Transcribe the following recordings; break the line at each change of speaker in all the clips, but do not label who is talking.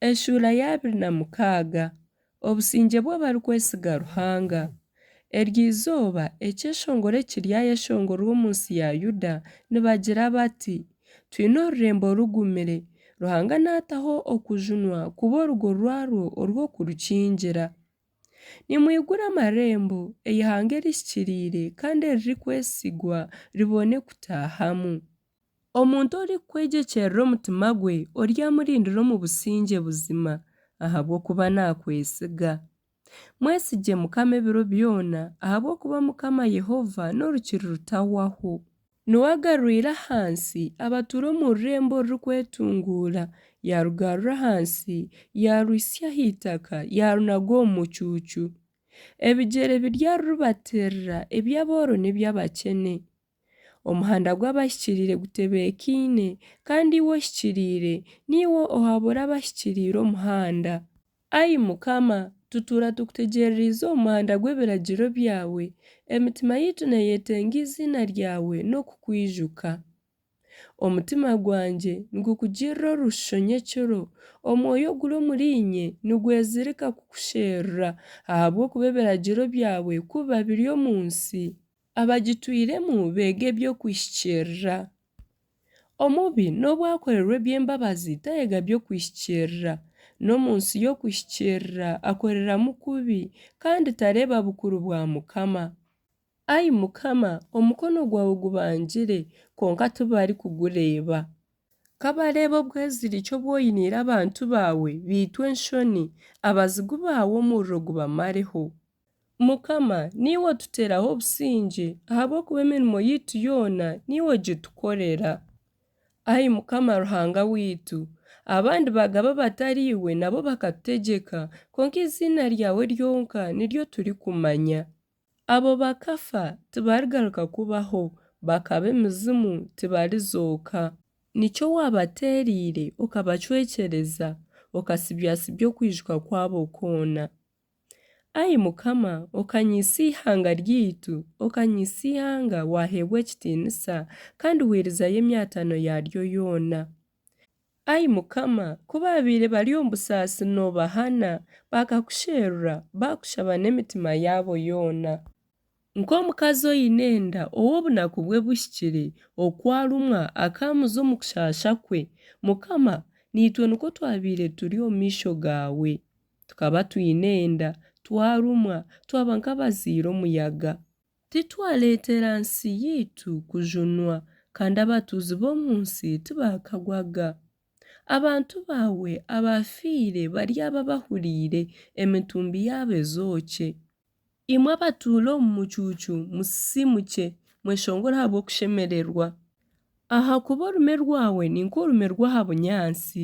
Eshuura ya abiri na mukaaga, Obusingye bw'abarikwesiga Ruhanga. Eryo izooba, ekyeshongoro eki ryayeshongorwa omu nsi ya Yuda, nibagira bati, Twine orurembo rugumire, Ruhanga naataho okujunwa kuba orugo rwarwo orw'okurukingira. Nimwigure amarembo, eihanga erihikiriire kandi eririkwesigwa ribone kutaahamu. Omuntu orikukwegyekyerera omutima gwe oryamurindira omu busingye buzima, ahabw'okuba naakwesiga. Mwesigye Mukama ebiro byona, ahabw'okuba Mukama Yehova n'orukiri rutahwaho. Nuwe agarwire ahansi abatuura omu rurembo orurikwetunguura, yaarugarura ahansi, yaarwitsya aha itaka, yaarunaga omu mucuucu. Ebigyere biri aha ruribateerera, eby'abooro n'eby'abakyene. Omuhanda gw'abahikiriire gutebeekaine, kandi iwe ohikiriire, niiwe ohabura abahikiriire omuhanda. Ai Mukama, tutuura tukutegyereriize omu muhanda gw'ebiragiro byawe, emitima yaitu neeyetenga eiziina ryawe n'okukwijuka. Omutima gwangye nigukugirira orushusho nyekiro, omwoyo oguri omuriinye nigwezirika kukusherura, ahabw'okuba ebiragiro byawe kubiba biri omu nsi, abagitwiremu beega eby'okwihikirira. Omubi n'obu akorerwa eby'embabazi tayega by'okwihikirira. N'omu nsi y'okwihikirira akoreramu kubi kandi tareeba bukuru bwa Mukama. Ai Mukama, omukono gwawe gubangire, kwonka tibarikugureeba. Ka bareebe obweziriki obu oiniire abantu baawe, beitu enshoni, abazigu baawe omuriro gubamareho. Mukama, niiwe otuteeraho obusingye, ahabw'okuba emirimo yaitu yoona niiwe ogitukorera. Ai Mukama Ruhanga waitu, abandi baagaba abatariiwe nabo bakatutegyeka, kwonka eiziina ryawe ryonka niryo turikumanya. Abo bakafa tibarigaruka kubaho, bakaba emizimu tibarizooka. Nikyo waabateereire, okabacwekyereza, okatsibyasibya okwijuka kwabo kwona. Ai Mukama, okanyeisa eihanga ryaitu, okanyeisa eihanga waaheebwa ekitiinisa, kandi hwirizayo emyatano yaaryo yoona. Ai Mukama, ku baabaire bari omu busaasi noobahana, baakakusherura, baakushaba n'emitima yaabo yoona. Nk'omukazi oine enda ou obunaku bwe buhikire, oku arumwa akaamuza omu kushaasha kwe, Mukama, naitwe nikwo twabaire turi omu maisho gaawe. Tukaba twine enda, twarumwa, twaba nk'abaziire omuyaga. Titwareetera nsi yaitu kujunwa, kandi abatuuzi b'omu nsi tibakagwaga. Abantu baawe abaafiire baryaba bahuriire, emitumbi yaabo ezookye. Imwe abatuura omu mucuucu, musisimukye, mweshongore ahabw'okushemererwa. Ahakuba orume rwawe ni nk'orume rw'aha bunyaatsi,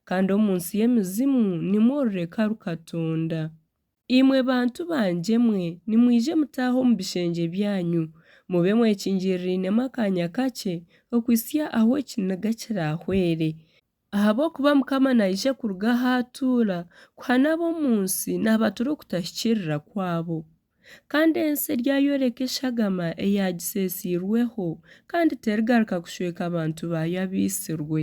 kandi omu nsi y'emizimu nimwo orureka rukatonda. Imwe bantu bangye mwe, nimwije mutaahe omu bishengye byanyu, mube mwekingirirainemu akaanya kakye, okuhitsya ahu ekiniga kiraahwere, Ahabw'okuba Mukama naija kuruga ahu atuura kuhana ab'omu nsi naabatura okutahikirira kwabo. Kandi ensi eryayoreka eshagama eyaagiseesiirweho, kandi terigaruka kushweka abantu baayo abaitsirwe.